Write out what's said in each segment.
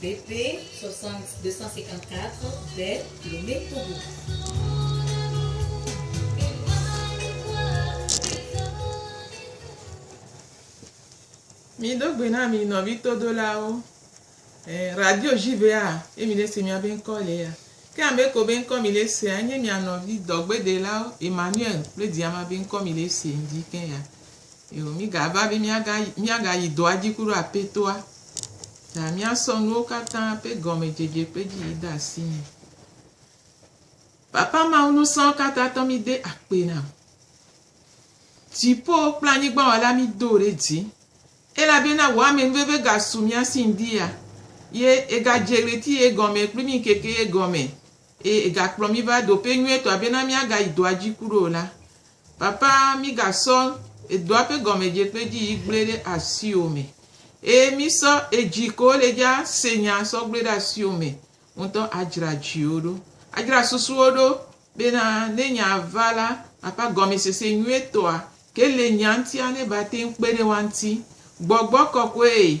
BP 60 254 de Lomé Togo. Mido gbe na mi nɔvi todolawo. Eh, radio JVA ye mi ɖe se miabe ŋkɔ le ya. Ke ame ko be ŋkɔ mi ɖe sea nye mia nɔvi dɔgbedelawo Emmanuel kple Diama be ŋkɔ mi ɖe se dzi ke ya. Yoo, mígava be míaga, míagayi dɔa dzi ku ɖo Apetoa ta míasɔ nuwo katã ƒe gɔmedzedze ƒe dzi yi de asi nɛ. Papa Mawu nusɔɔ katã tɔ mí de akpe na wò. Dziƒo kple anyigba wɔla mí do ɖe dzi. Elabena wò ame nuveve ga su mía si ŋdi ya. Ye ega dze ɣleti ye gɔme kple mí ŋkeke ye gɔme Eye egakplɔ mí va ɖoƒe nyuietɔa bena míagayi dɔa dzi kuɖo o la, Papa, mígasɔ edɔa ƒe gɔmedze kple dzi yiyi gblɔe ɖe asiwò me. Eye mísɔ edzi ko le dzi ase nya sɔ gblɔe ɖe asiwò me ŋutɔ adzra dziwo ɖo, adzra susuwo ɖo bena ne nyaa va la, Papa, gɔmesese nyuietɔa ke le nyaa ŋutia neva te ŋu kpe ɖe woa ŋuti. Gbɔgbɔ kɔkɔe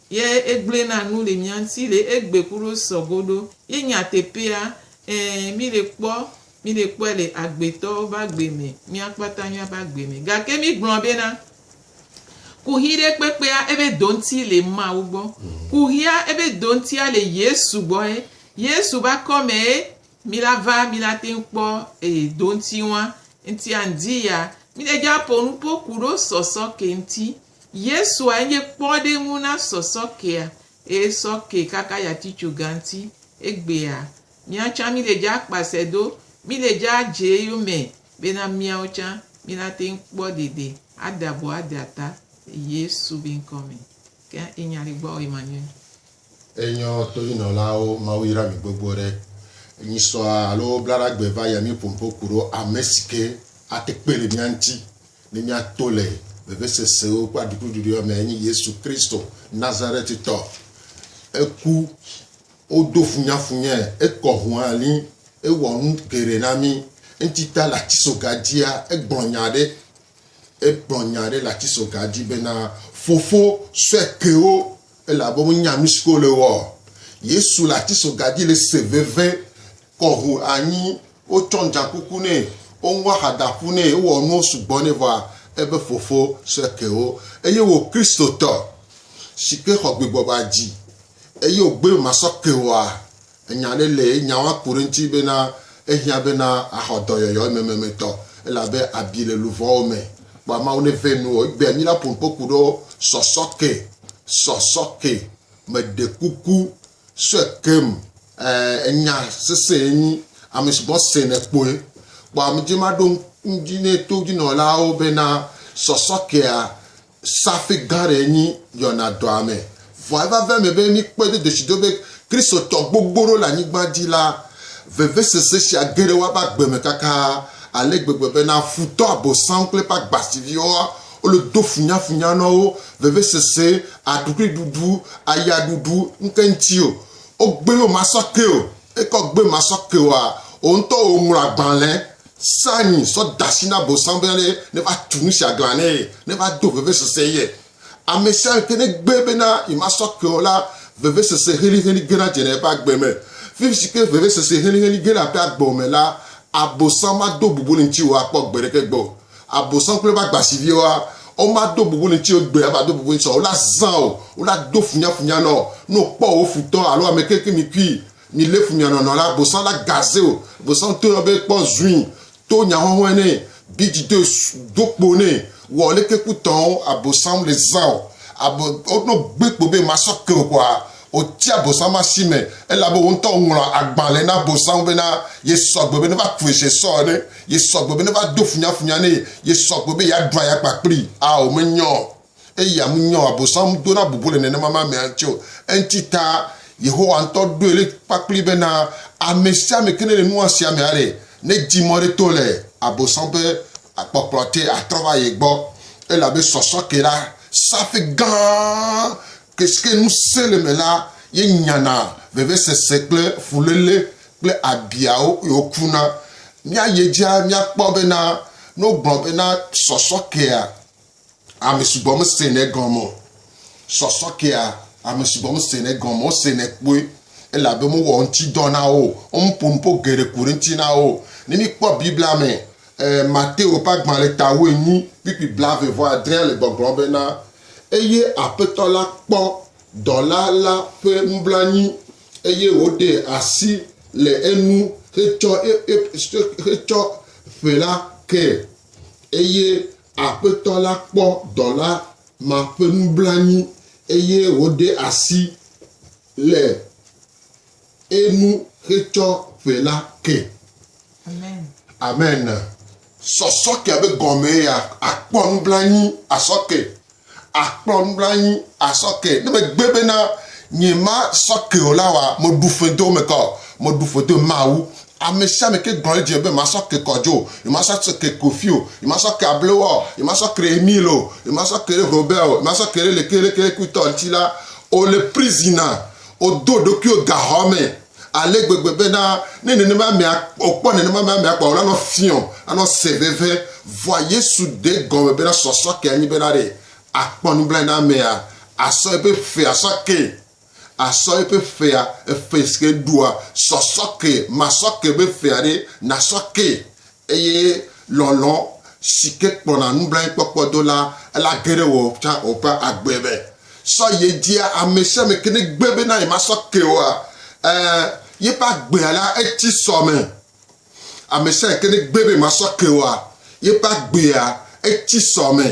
Ye egblɔe na nu le mía ŋuti le egbe ku ɖo sɔ go ɖo. Ye nyateƒea, ẽ, mí le kpɔ, mí le kpɔe le agbetɔwo be agbe me, mía kpata mía be agbe me. Gake mí gblɔ be na, kuxi ɖe kpekpea ebe do ŋuti le Mawu gbɔ. Kuxia ebe do ŋutia le Yesu gbɔ ye. Yesu be akɔ me ye mí la va mí la te ŋu kpɔ eye do ŋuti ŋua. Ŋutia ŋdi ya mí le dja ƒo nuƒo ku ɖo sɔsɔ ke ŋuti. Yesua enye kpɔɖeŋu na sɔsɔ kea, eye sɔ ke kaka yatitso gã ŋti. Egbea, mía tsã mí le dza akpasɛ do, mí le dza adze eyome bena míawo tsã mí na te ŋu kpɔ ɖeɖe ade abɔ ade ata le Yesu be ŋkɔ me. Ke enya ɖe gbɔa wɔ ye ma nye Enyɔ tonynɔlawo Mawu yra mi gbogbo ɖe nyisɔa alo blaɖa gbe va yami ƒompo kuɖo amesike ate kpe le mia ŋti ne mia to le vevesesewo kple aɖukluɖuɖuiwo me enye Yesu Kristo Nazaretitɔ. Eku, wo do funyafunyɛ, ekɔ hualĩ, ewɔ nu geɖe na mi. Ŋtita le atisoga dzia egblɔ nya ɖe, egblɔ nya ɖe le atisoga dzi bena fofo sɔe kewo Elabe wonya nu siwo wole wɔ. Yesu le atisoga dzi le se veve kɔ ho anyi. Wotsɔ ŋdzakuku nɛ, woŋu ahadaƒu nɛ, wowɔ nuwo sugbɔ nɛ vɔa ebe Fofo sɔe ke wo. Eye wò Kristotɔ si ke xɔ gbegbɔgba dzi eye wògbe be masɔ ke woa, Enya ɖe le ye nya woaku ɖe eŋuti bena ehiã bena axɔ dɔyɔyɔ emememɛtɔ elabe abi le luʋɔwo me. Kpɔ ameawo ne vɛ nuwò egbea mí la ƒonuƒo ku ɖewo sɔsɔke sɔsɔke me ɖe kuku sɔe keŋ ɛɛ enya sese ye nyi ame si gbɔ se ne kpɔe. Kpɔ amedzi maɖo ŋdi ne to dzinɔlawo bena sɔsɔkea Safi gã aɖee nyi yɔna dɔa me. Vɔa eva ve eme be míkpɔe do ɖoshidó be Kristotɔ gbogbo ɖewo le anyigba dzi la, vevesese sia ge ɖe woabe agbe me kaka ale gbegbe bena futɔ Abosam kple eƒe agbasiviwo le do funyafunya na wo, vevesese, aɖukliɖuɖu, ayaɖuɖu, ŋkeŋti o. Wogbe be womasɔ ke o. Eke wogbe be womasɔ ke oa, wò ŋutɔ wò ŋlɔ agbalẽ Sa anyi sɔ de asi na Abosam be ale neva tu nu sia glã nɛ, neva do vevesese ye. Ame sia ame ƒe negbe bena yemasɔ ke o la, vevesese helĩhelĩ gena dzena eƒe agbe me. Fi si ke vevesese helĩhelĩ gena eƒe agbe me la, Abosam mado bubu le ŋutiwò akpɔ gbe ɖeke gbɔ o. Abosam kple eƒe agbasiviwoa, womado bubu le ŋutiwò egbe ava do bubu ŋutiwò o. Wolazã wò, wolado funyafunya nɔ wò. Ne wokpɔ wò futɔ alo ame kekemitui Mi lé fu mia nɔnɔ la bosã la gaze o bosã to yɔ be kpɔ zui to nya hɔhɔe nɛ bi dzi do do kpo nɛ wɔ leke ku tɔn a bosã le zã o abo o no gbe kpo be ma sɔ ke o kɔa o tsi a bosã ma si me ela be o ŋtɔ o ŋlɔ agban le na bosã be na ye sɔ gbe be ne va kue se sɔ ene ye sɔ gbe be ne va do funyafunya nɛ ye sɔ gbe be ya ɖua ya kpa kpli a o me nyɔ. Eya menyɔ Abosam dona bubu le nenema me amea ŋuti o. Eŋuti ta Yehowa ŋutɔ ɖoe ɖe kpakpli be na amesiame ke nele nua sia me aɖe, nedi mɔ ɖe to le Abosam ƒe kpɔkplɔ te atrɔ va ye gbɔ, elabe sɔsɔ ke la, saƒe gã ke si ke ŋusẽ le eme la ye nyana vevesese kple fuléle kple abiawo eye wokuna. Míayi edzia, míakpɔ bena ne wogblɔ bena sɔsɔ kea, Ame sugbɔ mesene egɔme o. Sɔsɔ kea, ame sugbɔ mesene egɔme o. Wosenɛ kpoe elabe mowɔ ŋutidɔ na wo o. Womeƒo nu ƒo geɖe ku ɖe eŋuti na wo o. Ne míkpɔ Biblia me, e, Mateo ƒe agbalẽ ta wuienyi kpukpui blaeve vɔ adrea le gbɔgblɔm bena, Eye Aƒetɔ la kpɔ dɔla la ƒe nublanui, eye wòɖe asi le enu hetsɔ, hetsɔ ƒe la ke, eye Aƒetɔ la kpɔ dɔla ma ƒe nublanui eye wòɖe asi le enu hetsɔ ƒe la ke. Amen. Sɔsɔkea be gɔmee ya, akpɔ nublanui asɔ ke Akplɔ nublanyi asɔ ke. Ne megbe bena nye ma sɔ ke o la wa me ɖu fe do me kɔ, me ɖu fe do ma wu. Ame sia ame ke gblɔ edzi me be ma sɔ ke kɔ dzo, nye ma sɔ ke kofi o, nye ma sɔ ke able wɔ, nye ma sɔ ke Emile o, nye ma sɔ ke Robert o, nye ma sɔ ke ɖe leke leke leke ŋutɔ ŋuti la, o le prison na, o do ɖokuiwo gaxɔ me. Ale gbegbe bena ne nenema amea, wòkpɔ nenema me amea kpɔ, wòla nɔ fiɔ, anɔ se veve. Vɔa Yesu ɖe gɔme bena sɔsɔ ke anyi bena ɖe akpɔ nublanui na amea, asɔ eƒe ƒe asɔ ke, asɔ eƒe ƒea, eƒe si ke ɖua, sɔsɔ ke, masɔ ke be ƒea ɖe, nasɔ ke Eye lɔlɔ̃ si ke kplɔna nublanuikpɔkpɔ do la, ela ge ɖe wò tsã wò ƒe agbe me. Sɔ yi edzia ame sia ame ke ne gbe be na yemasɔ ke oa, ẽ, yeƒe agbea la etsi sɔ me. Ame sia ame ke ne gbe be yemasɔ ke oa, yeƒe agbea etsi sɔ me.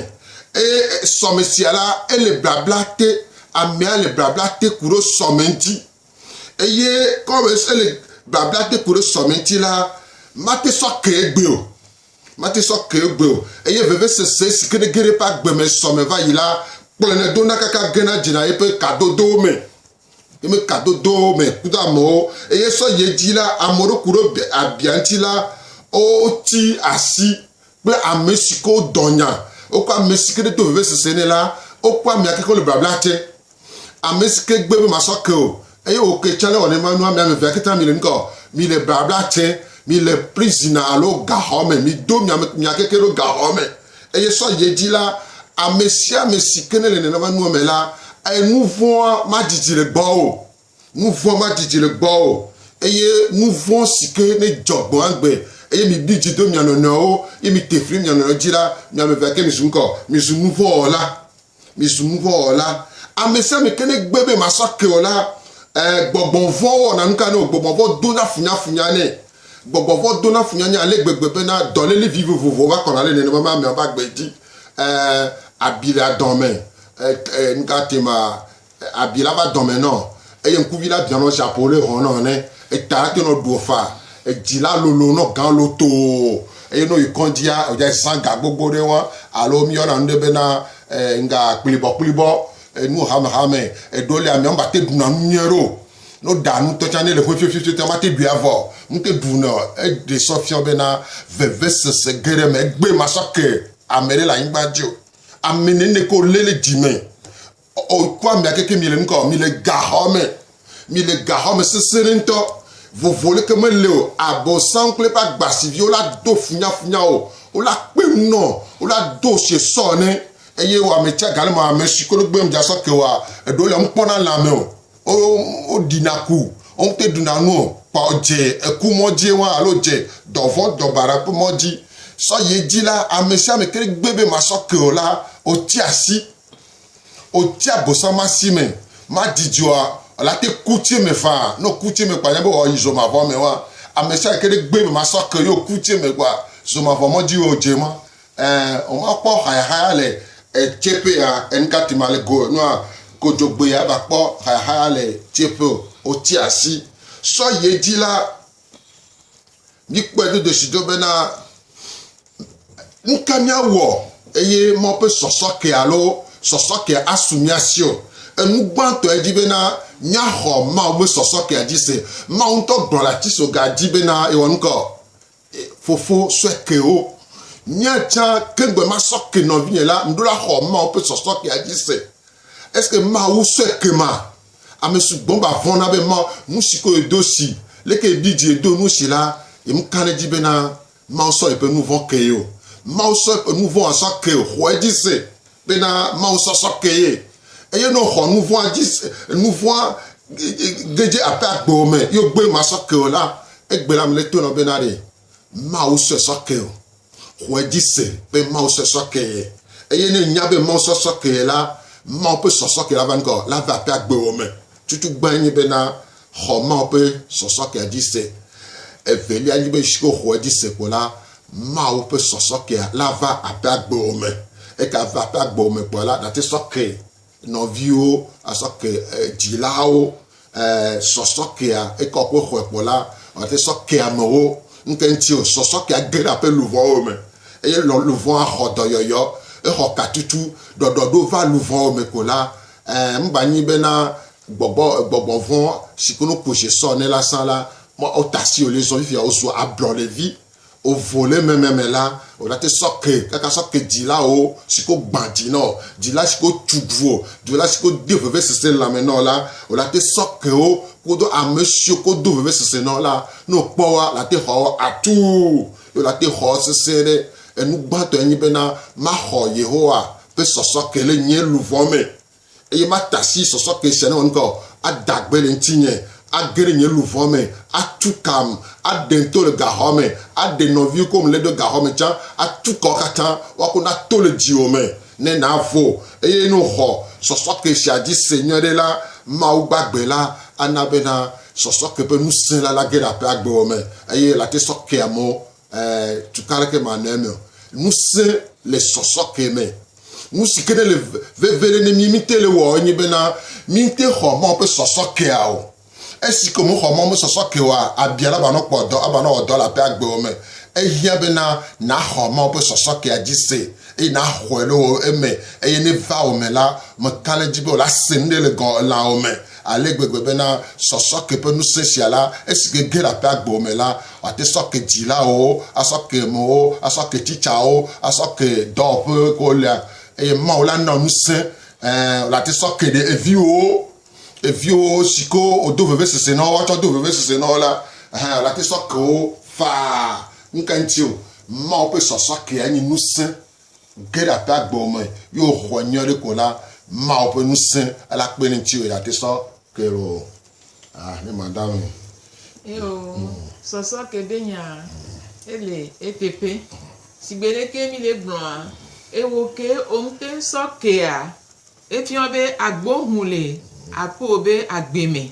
Eye sɔme sia la, ele blabla te, amea le blabla te ku ɖo sɔme ŋuti. Eye kɔwe se le babla te ku ɖe sɔmɛti la, mate sɔ ke egbeo. Mate sɔ ke egbeo. Eye vevesese si ke ɖe ge ɖe eƒe agbe me sɔ me va yi la, kplɔnɛ dona kaka gena dzena yeƒe kadodowo me. Yeƒe kadodowo me kudo amewo. Eye sɔ yi edzi la, amewo ɖo ku ɖe abia ŋuti la, wotsi asi kple ame si ke wodɔ nya, wokɔ ame si ke ɖo to vevesese nɛ la, wokɔ amea ke ko le blabla te. Ame si ke gbe be masɔ ke o, eye wòke tsã le wɔ nenema nua, mi ame evea katã mile nu ka o? Mile blabla te, mile prison alo gaxɔ me, mido mia me mia keke ɖo gaxɔ me. Eye sɔ yi edzi la, ame sia ame si ke nele nenema nua me la, enu vɔ̃a madidi le gbɔwò o. Nu vɔ̃ madidi le gbɔwò o, eye nu vɔ̃ si ke nedzɔ gbɔ agbe, eye miɖi dzi do mia nɔnɔewo, eye mite fli mia nɔnɔewo dzi la, mi ame evea ke mizu nu ka o, mizu nu vɔ̃ wɔla, mizu nu vɔ̃ wɔla. Ame sia ame ke negbe be masɔ ake o la, ẽ, gbɔgbɔ vɔ̃ wɔna nu ka nɛ o, gbɔgbɔ vɔ̃ dona funyafunya nɛ. Gbɔgbɔ vɔ̃ dona funyafunya ale gbegbe bena dɔléle vivovowo va kɔna ɖe nenema be ameawo ƒe agbe dzi, ẽ, abi le adɔ me, ẽ, ẽ, nu ka tae ma, Abi la va dɔme nɔ eye ŋkuvi la bia nɔ ʒapo ɖe hɔn nɔ ne eta la te nɔ ɖuɔ fa. Edzi la lolo nɔ gan lotoo eye ne woyi kɔndzia o dza zan ga gbogbo ɖe ŋua alo wo mi yɔna nu ɖe be na ŋga kplibɔ kplibɔ enu hame hame. Eɖewo li amea ŋgba te ɖuna nu nyuie ɖeo. Ne wo ɖa nu tɔ tsa ne le ƒe fiɔfiɔfiɔ tsa ma te ɖui avɔ o. Nu te ɖu nɛ o. Eɖe sɔ fiɔ be na veve sese ge ɖe me egbe ma sɔ ke ame ɖe le anyigba dzi o. Ame nɛnɛ ke wo le le dzi me. O, kpɔ amea keke mi le nu ka o, mi le gaxɔ me, mi le gaxɔ me sesẽ ɖe ŋutɔ. Vovo leke mele o, Abosam kple eƒe agbasiviwo la do funyafunya o, wola kpe nu nɔ, wola do sie sɔ ene. Eye wò ame tsia gale me, ame si koɖo gbem dza sɔ ke wòa, eɖewo le nu kpɔm na lã me o, wo, woɖina ku, wo ŋutɔe ɖuna nu o, kpɔ dze eku mɔ dzie wã alo dze dɔvɔ̃ dɔbaɖa ƒe mɔ dzi. Sɔ yi edzi la, ame sia ame ke ɖe gbe be masɔ ke o la, wotsi asi. O tsi agbɔsɔ ma si me ma dzidzɔa la te ku tsi me faa no ku tsi me kpa nyɛ be o yi zɔ ma vɔ me wa ame sa ke ɖe gbe me ma sɔ ke yo ku tsi me gba zɔ ma vɔ mɔ dzi o dze ma eh o ma kpɔ haya haya le e tse pe ya en ka ti ma le go no a go dzo gbe ya ba kpɔ haya haya le tse pe o tsi asi sɔ ye dzi la Míkpɔe do ɖoɖo bena nuka míawɔ eye mɔ ƒe sɔsɔke alo sɔsɔke asu mía si o. Enu gbãtɔ edzi bena míaxɔ Mawu ƒe sɔsɔkea dzi se. Mawu ŋutɔ gblɔ le atisoga dzi bena yewɔ nuka o? Fofo sue kewo. Nye tsã ke ŋgbe masɔ ke nɔvinye la, meɖo la xɔ Mawu ƒe sɔsɔkea dzi se. Est-ce que Mawu sue ke ma? Ame sugbɔ va vɔ̃na be Mawu nu si ko yedo si, leke yeɖi dzi yedo nu si la, yemeka ɖe edzi bena Mawu sɔ yeƒe nu vɔ̃ kee o. Mawu sɔ yeƒe nu vɔ̃a sɔ ke ye. Xɔe dzi se bena Mawu sɔ sɔ ke ye. Eye ne wòxɔ nu vɔ̃a dzi se, nu vɔ̃a ge dze aƒe agbewo me ye wògbe masɔ ke o la, egbe la me le to nɔ bena ɖe Mawu sɔe sɔ ke o. Xɔ edzi se be Mawu sɔe sɔ ke. Eye ne ènya be Mawu sɔe sɔ ke la, Mawu ƒe sɔsɔ ke la va ŋgɔ la va ƒe agbewɔ me. Tutugbã nye bena xɔ Mawu ƒe sɔsɔ kea dzi se. Evelia nye be esi woxɔ edzi se kpɔ la, Mawu ƒe sɔsɔ kea la va ƒe agbewɔ me. Eke ava ƒe agbewɔ me kpɔa la, nàte sɔ ke. nɔviwo asɔke dzilawo sɔsɔkea ekɔ ƒe xɔe kpɔ la ɔte sɔke amewo nke ŋuti o sɔsɔkea ge ɖe aƒe luvɔwo me eye lɔ luvɔa xɔ dɔyɔyɔ exɔ katutu ɖɔɖɔ ɖo va luvɔwo me ko la mba nyi be na gbɔgbɔ gbɔgbɔ vɔ si ko no ko se sɔ ne la sa la mɔ o tasi o le zɔ fifia o su ablɔ le vi Ovo le meme me la, o la te sɔke, kaka sɔke dzila o si ko gbã dzi nɔ, dzila si ko tu vo, dzila si ko de vevesese lãme nɔ la, o la te sɔke o kodo ame siwo ko do vevesese nɔ la. Ne o kpɔ woa, la te xɔ wo atu, ye o la te xɔ sesẽ ɖe. Enu gbãtɔ enye bena maxɔ Yehowa ƒe sɔsɔke le nye luvɔ me. eye mata asi sɔsɔke sia newɔ nuka o, ada gbe le ŋutinye, age ɖe nye luʋɔ me, atu kam, aɖem to le gaxɔ me, aɖe nɔviwo kewo mele ɖo gaxɔ me tsã, atu kawo katã woako na to le dziwò me, ne nàvo. Eye ne wòxɔ sɔsɔke sia dzi se nyuiɖe la, Mawu gbagbe la ana bena sɔsɔke ƒe ŋusẽ la nage ɖe aƒea agbewò me, eye late sɔkeamewo, ɛɛ, tukɔ aɖeke manɔ eme o. Ŋusẽ le sɔsɔke me. Nu si ke ne le veve ɖe ne mí míte le wɔ enye bena míte xɔ Mawu ƒe sɔsɔ kea o. Esi ke wòmexɔ Mawu ƒe sɔsɔ ke oa, abia ne avanɔ kpɔ dɔ, avanɔ wɔ dɔ le aƒea agbewo me. Ehiã bena nàxɔ Mawu ƒe sɔsɔ kea dzi se eye nàxɔe le wò eme eye ne eva wò me la, mekana edzi be wòla se nuɖe le gɔ̃ elãwò me. ale gbegbe bena sɔsɔ ke ƒe ŋusẽ sia la, esi ke ge ɖe aƒea gbɔ me la, wòate sɔ ke dzilawo, asɔ ke amewo, asɔ ke titsawo, asɔ ke dɔwɔƒe ke wolea, eye Mawu la nɔ ŋusẽ, ɛ̃, wòate sɔ ke ɖe eviwo, eviwo si ke wòdo vevesese na wo atsɔ ado vevesese na wo la, ɛ̃, wòate sɔ ke wo faa. Nu ka ŋuti o, Mawu ƒe sɔsɔ kea nye ŋusẽ Ge ɖe aƒe agbewo me ye wòxɔ nyui aɖe ko la, Mawu ƒe ŋusẽ la kpe ɖe eŋuti o, eya te sɔ ke ɖo o. Ah, ne madame. Eo, sɔsɔ ke ɖe nya ele eteƒe. Sigbe ɖeke mi le gblɔa, eo ke omte ŋsɔ kea, efiɔ be agbo ŋu le aƒeo be agbe me.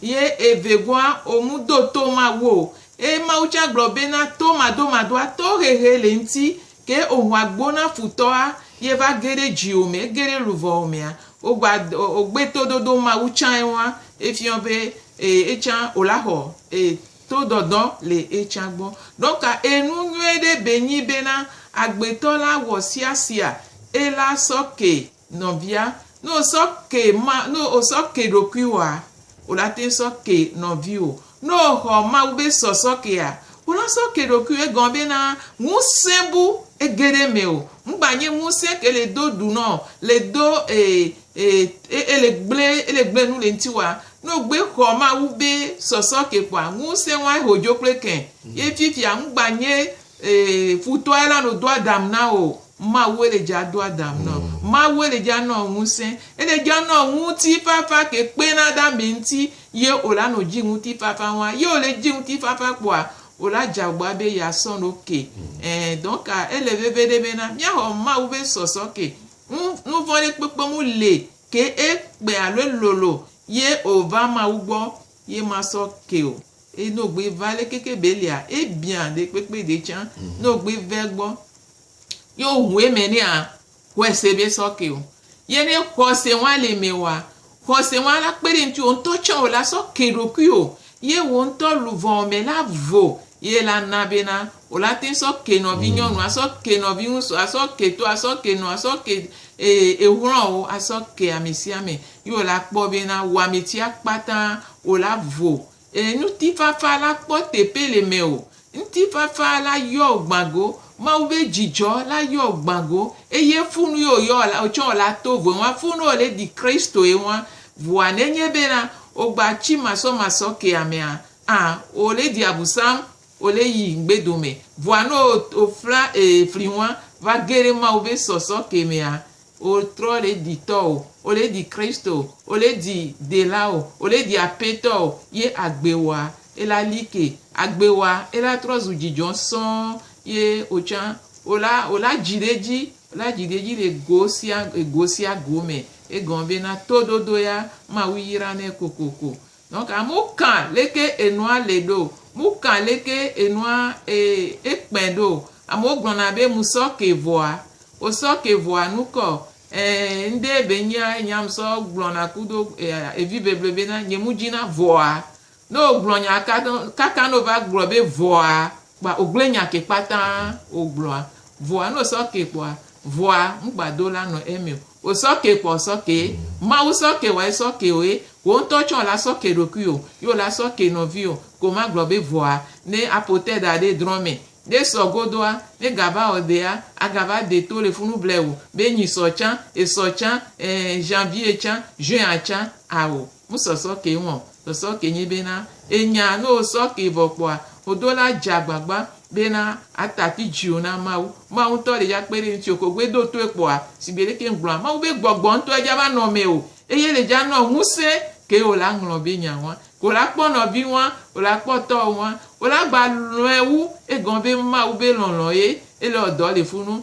Ye evegɔa, o mu do to Mawu o. Eye Mawu tsã gblɔ be na to madomadoa, to hehe le ŋti, ke o ho agbo na futɔa, ye va ge ɖe dziwo me, ege ɖe luvɔwo mea, o gba, o gbe to dodo Mawu tsã eŋua, efiɔ be, e, etsã o la xɔ, e, to dɔdɔ le etsã gbɔ. Ɖɔka enu nyuiɖe be nyi be na agbetɔ la wɔ siasia ela sɔ ke Nɔvia, ne wosɔ ke ma, ne wosɔ ke ɖokuiwòa, wò la teŋ sɔ ke nɔviwò. Ne wòxɔ Mawu be sɔsɔ kea, wò la sɔ ke ɖokuiwò. Egɔme bena, ŋusẽ bu ege ɖe eme o. Ŋgba nye ŋusẽ ke le do ɖu nɔ, le do e, e, e, ele gblẽ, ele gblẽ nu le ŋutiwòa. Ne wògbe xɔ Mawu be sɔsɔ ke kpɔa, ŋusẽ wae ho dzo kple ke. Ye fifia ŋgba nye Ee, futɔe la no do Adam na o. Mawue le dja do Adam na o. Mawue le dja nɔn ŋusẽ. Ele dja nɔn ŋutifafa ke kpena ɖe amɛ ŋti ye o la no dji ŋutifafa ŋua. Ye o le dji ŋutifafa kpɔa, o la dja gbɔa be ya sɔn o ke. Ɛɛ, donc ele veveɖe be na mia xɔ Mawu be sɔsɔ ke. Ŋ, nuvɔn ɖe kpekpe mu le ke e kpe alo e lolo ye o va Mawu gbɔ ye ma sɔ ke o. Eye ne wògbe va le keke belia, ebiã ɖe kpekpe ɖe tsã, ne wògbe va egbɔ, ye wòho eme nɛ a, xɔe se be sɔke o. Ye ne xɔse ŋua le eme oa, xɔse ŋua la kpe ɖe ŋti wò ŋutɔ tsã wò la sɔ ke ɖokuiwò, ye wò ŋutɔ luʋɔ me la vo, ye la na bena wòle ate ŋu sɔ ke nɔvinyɔnu, asɔ ke nɔviŋutsu, asɔ ke to, asɔ ke nɔ, asɔ ke exlɔwo, asɔ ke ame sia ame. Ye wòle akpɔ be na wɔametsia kpata wòle avo. Ee, ŋutifafa la kpɔ teƒe le mewò. Ŋutifafa la yɔ wò gbã go. Mawu be dzidzɔ la yɔ wò gbã go. Eye funu ye wòyɔ la, wòtsɔ wò le ato voe ŋua. Funu wòle ɖi Kristoe ŋua. Vɔa nenye be na wogba tsi masɔmasɔ ke amea, a wòle ɖi abu sam Ole yi ŋgbe dome vɔa no o fla ee fli ŋua va ge ɖe Mawu be sɔsɔ ke mea o trɔ le di tɔ o o le di Christ o o le di dela o o le di apetɔ o ye agbe wa ela like agbe wa ela trɔ zu djidjɔ sɔɔ ye o tsa o la o la dji ɖe dji o la dji ɖe dji le go sia go sia go me egɔme be na to dodo ya Mawu yra nɛ kokoko Donc amewo kã leke enua le ɖo, mu kã leke enua ekpɛ ɖo. Amewo gblɔna be mu sɔ ke vɔa, wo sɔ ke vɔa nu kɔ. Eee ŋɖe be nyea enya ŋ sɔ gblɔna kudo evi beble be na nye mu dzi na vɔa. Ne wo gblɔ nya kaka ne wo va gblɔ be vɔa, kpa wògblẽ nya ke kpata wògblɔa, vɔa ne wòsɔ kee kpɔa, vɔa ŋgbado la nɔ eme o. Wòsɔ kee kpɔ wòsɔ kee, Mawu sɔ kee wɔ esɔ kee o ye, wò ŋutɔ tsɛ wòla sɔ kee ɖokui o ye wòla sɔ kee nɔvi o. Ke womagblɔ be vɔa ne aƒo te da ɖe drɔ̃ me, ne esɔ godoa, ne egava wɔ dea, agava de to le funu ble o be nyi sɔ tsã, esɔ tsã, ɛɛ, janvier tsã, juin tsã, ao. Wo sɔ sɔ ke ŋɔ, sɔ sɔ ke nyi be na enya no wo sɔ ke vɔ kpɔa, wo do la dja agbagba be na a tafi djiwo na Mawu. Mawu ŋtɔ ɖe dja kpe ɖe ŋtio ke wo gbe do tɔɛ kpɔa, shigbe leke ŋ gblɔa, Mawu be gbɔgbɔ ŋtɔ edja va nɔ mɛo, eye le dja nɔ ŋuse ke wo la ŋlɔ be nya ŋua, ke wo la kpɔ nɔvi ŋua, wo la kpɔ tɔwo ŋua, wo la gba lɔɛ wu, egɔme be Mawu be lɔlɔ ye, ele wɔ dɔ le funu,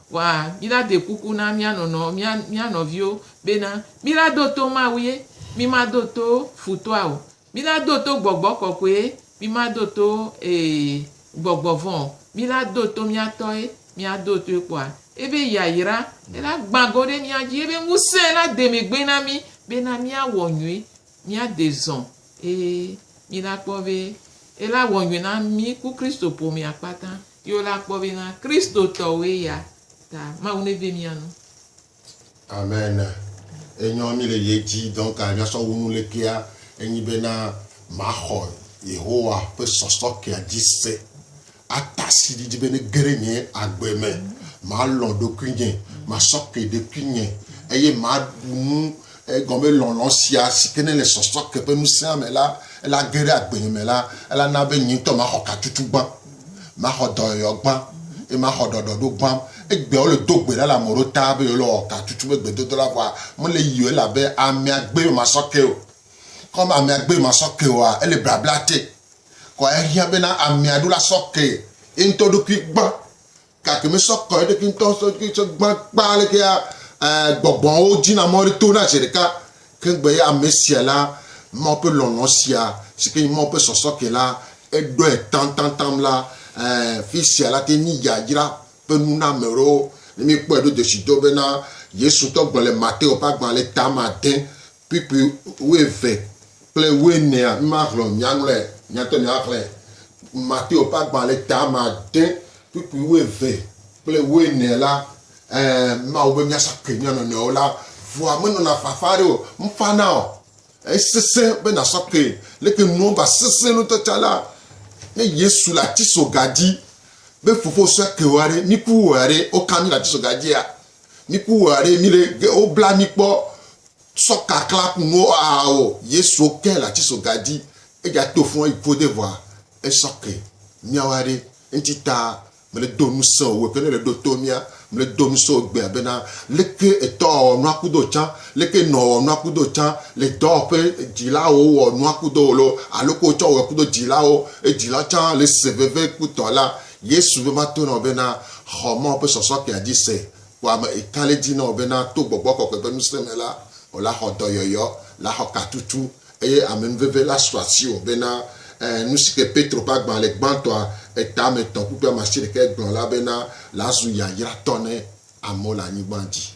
Wa, mila de kuku na mia nɔnɔ, mia, mia nɔviwo bena, mila do to Mawue, mima do to futɔa o. Mila do to Gbɔgbɔ Kɔkɔe, mima do to, ee, gbɔgbɔ vɔ̃ o. Mila do to mia tɔe, mia do toe kpɔa ebe yayra ela gbã go ɖe mia dzi, ebe ŋusẽ la de megbe na mi bena mia wɔ nyui, mia de zɔ̃, ee, mila kpɔ be ela wɔ nyui na mi ku Kristo ƒomea kpata. Yo la kpɔ be na Kristo tɔwoe ya ta Mawu ne ve mia nu. Amen enyɔ mi le ye dzi donc a mia sɔ wunu le kea enyi be na ma xɔ Yehowa ƒe sɔsɔ kea dzi se a tasi ɖiɖi be ne geɖe nye agbe me ma lɔ ɖokuinye ma sɔ ke ɖokuinye eye ma ɖu nu Egɔme lɔlɔ̃ sia si ke ne le sɔsɔ ke ƒe ŋusẽa me la, ela ge ɖe agbenye me la, ela na be nye ŋutɔ maxɔ katutu gbã, maxɔ dɔyɔyɔ gbã, eye maxɔ ɖɔɖɔɖo gbã. Egbeawo le do gbe ɖa le ame ɖewo ta be yewole wɔ katutu be gbedodo la vɔa, mele yi o elabe ame agbe ye womasɔ ke o. Ke wɔm ame agbe ye womasɔ ke oa, ele blabla te. Kɔ ehiã bena ame aɖewo la sɔ ke ye ŋutɔ ɖokui gbã Gake mesɔ kɔ eɖokui ŋutɔ sɔ ɖokui tsɔ gbã kpa alekea gbɔgbɔwo dzina mɔ ɖe tona zi ɖeka ke gbe ya ame sia la Mawu ƒe lɔlɔ̃ sia si ke nye Mawu ƒe sɔsɔ ke la eɖɔe taŋtaŋtaŋ la fi sia la te nyi yayra ƒe nu na ame ɖewo ne míekpɔe ɖo desi do bena Yesu ŋutɔ gblɔ le Mateo ƒe agbalẽ tame ade kpukpui wuieve kple wuienea, mímaxlɔ̃, míaŋlɔe, míate ŋu míaxlẽe. Mateo ƒe agbalẽ tame ade, kpukpui wuieve kple wuiene la, ẽ, mímawɔ be míasa koe mía nɔnɔewo la, ŋua menɔna fafa aɖe o, mefana o. Esesẽ be nàsɔ koe. Leke nuawo va sesẽ ŋutɔ tsã la, ne Yesu le atisoga dzi be, Fofo, sɔ koe wɔ ɖe, miku wɔ ɖe, woka mí le atisoga dzia? Mi ku wɔ ɖe mi ɖe ge wo bla mi kpɔ sɔ kakla ku no a o Yesu ke la ci so gadi e ja to fun e ko de vwa e sɔ ke mi awa ɖe enti ta me le do nu se o we ke ne le do to mi a me le do nu se o gbe abena leke etɔ o nu aku do can leke nɔ o nu aku do can le dɔ pe di la o wɔ nu aku do lo alo ko cɔ wɔ ku do di la o e di la can le se veve ku tɔ la Yesu be mato na wò be na xɔ Mawu ƒe sɔsɔkpea dzi se. Kpɔ ame ekali di na wò be na to Gbɔgbɔ Kɔkɔe ƒe ŋusẽ me la, wò la xɔ dɔyɔyɔ, la xɔ katutu, eye amenuveve la su asiwò be na e nusike Petro ƒe agbalẽ gbãtɔa etametɔ kpukpui amasiɖekɛ gblɔ la be na la zu yayratɔ ne amewo le anyigba dzi.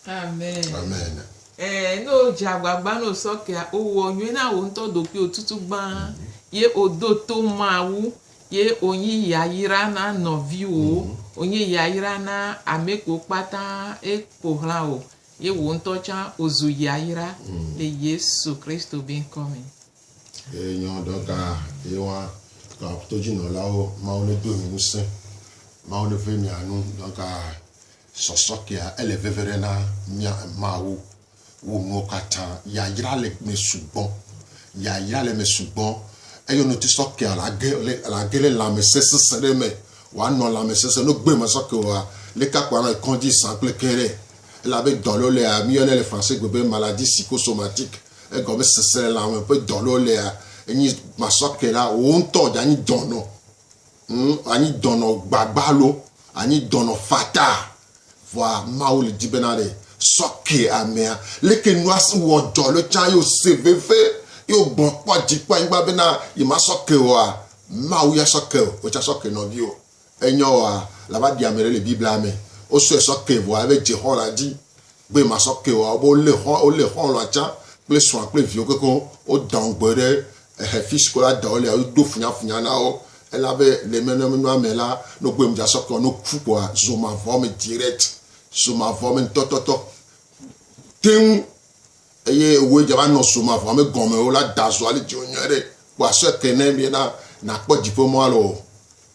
Amen. Amen. Ẽ, ne wò dze agbagba ne wò sɔkpea, wowɔ nyuie na wò ŋutɔ ɖokuiwò tutu gbã, ye wòdo to Mawu. Ye wònyi yayra na nɔviwòwo, wònyi yayra na amɛkuwo kpata ye ƒo xlã wò, ye wò ŋutɔ tsã òzu yayra le Yesu Kristo be ŋkɔ me. Ye nyɔ ɖɔ ga ye wa ga to dzi nɔ la wo Mawu ne do mi nu se. Mawu ne ve mia nu ɖɔ ga sɔsɔ kea ele veve ɖe na mia Mawu Wò nuwo katã. Yayra le me sugbɔ. Yayra le me sugbɔ. Eyi ɔnɔ ti sɔ kea la ge le la ge le lãmesẽ sesẽ ɖe me. Wa nɔ lãmesesẽ no gbe ma sɔ ke wa le ka kpɔ anɔ kɔndzi sã kple ke ɖe. Elabe dɔ lo lea mi yɔnɛ le français gbe be maladie psychosomatique. Egɔme sesẽ le lãme ƒe dɔ lo lea enyi ma sɔ ke la wo ŋutɔ dza nyi dɔnɔ. Ŋ, anyi dɔnɔ gbagba alo anyi dɔnɔ fataa. Vɔa Mawu le di bena ɖe sɔ ke amea. Leke nua si wɔ dzɔ ɖo tsã ye wose veve ye wogbɔ kpɔ dzi kpɔ anyigba bena yema sɔ ke woa? Mawu ya sɔ ke wò tsã sɔ ke nɔviwò. Enyɔ woa? Lava ɖi ame ɖe le Biblia me. Wosɔe sɔ ke vɔa eve dze xɔlã dzi. Gbe ma sɔ ke wa wo le xɔ wo le xɔ la tsa kple sua kple viwo keke wo dɔn gbe ɖe ehe fi si ko la dɔn le wo do funya funya na wo ela be le me ne nua me la no gbe mu dza sɔ ke no ku ko zoma vɔ me direct zoma vɔ me tɔtɔtɔ teŋ eye wo dza va nɔ zoma vɔ me gɔme wo la da zɔ ali dzi wo nyɔ ɖe ko asɔ ke ne mi na na kpɔ dziƒo mɔ alo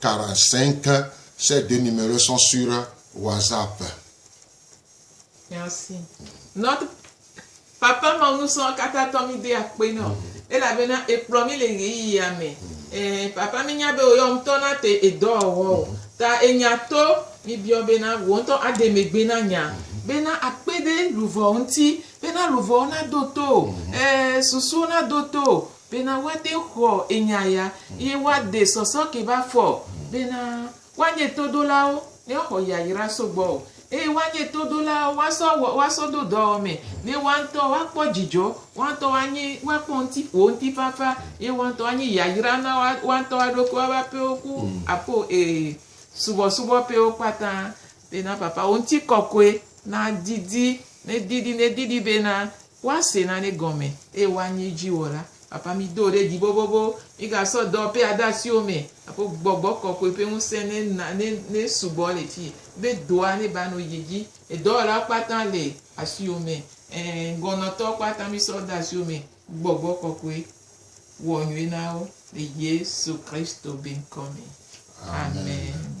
45 Cette denumeration sur WhatsApp. Merci. Notre Papa Mawu nusrɔ̃ katã tɔ mí de akpe nɔ mm. elabena ekplɔ mí le ɣeyiɣia me. Mm. Eh, papa mí nya be wò yɔ ŋutɔ na te edɔ wɔ o. Mm. Ta enya to mí biɔ bena wò ŋutɔ ade megbe na nya bena akpe ɖe luvɔ ŋuti bena luvɔwo na do to eh, susuwo na do to Bena woade xɔ enya ya, eye woade sɔsɔ ke ba fɔ. Bena woanye todolawo, ne woaxɔ yayra so gbɔwò, eye woanye todolawo, woasɔ wɔ, woasɔ do dɔwɔmɛ, ne woa ŋutɔ woakpɔ dzidzɔ, woa ŋutɔ woanye, woakpɔ ŋuti, wò ŋutifafa, ye woa ŋutɔ woanye yayra na woa, woa ŋutɔ woa ɖokui, woa ƒe aƒewo ku aƒeo, e, subɔsubɔ ƒewo kpata. Bena Papa, wò ŋutikɔkɔe nadidi, nedidi, nedidi bena Woase nane gɔme, eye woanye edzi wɔla. Papa, mido wò ɖe dzi bobobo. Migasɔ dɔwɔƒe ade asiwò me. Aƒo Gbɔgbɔ Kɔkɔe ƒe ŋusẽ ne na, ne, ne sugbɔ le fii, be dɔa ne va nɔ dzi dzi. Edɔwɔlawo kpata le asiwò me. Ẽ, ŋgɔnɔtɔwo kpata misɔ de asiwò me. Gbɔgbɔ Kɔkɔe, wɔ nyuie na wo le Yesu Kristo be ŋkɔ me. Amen.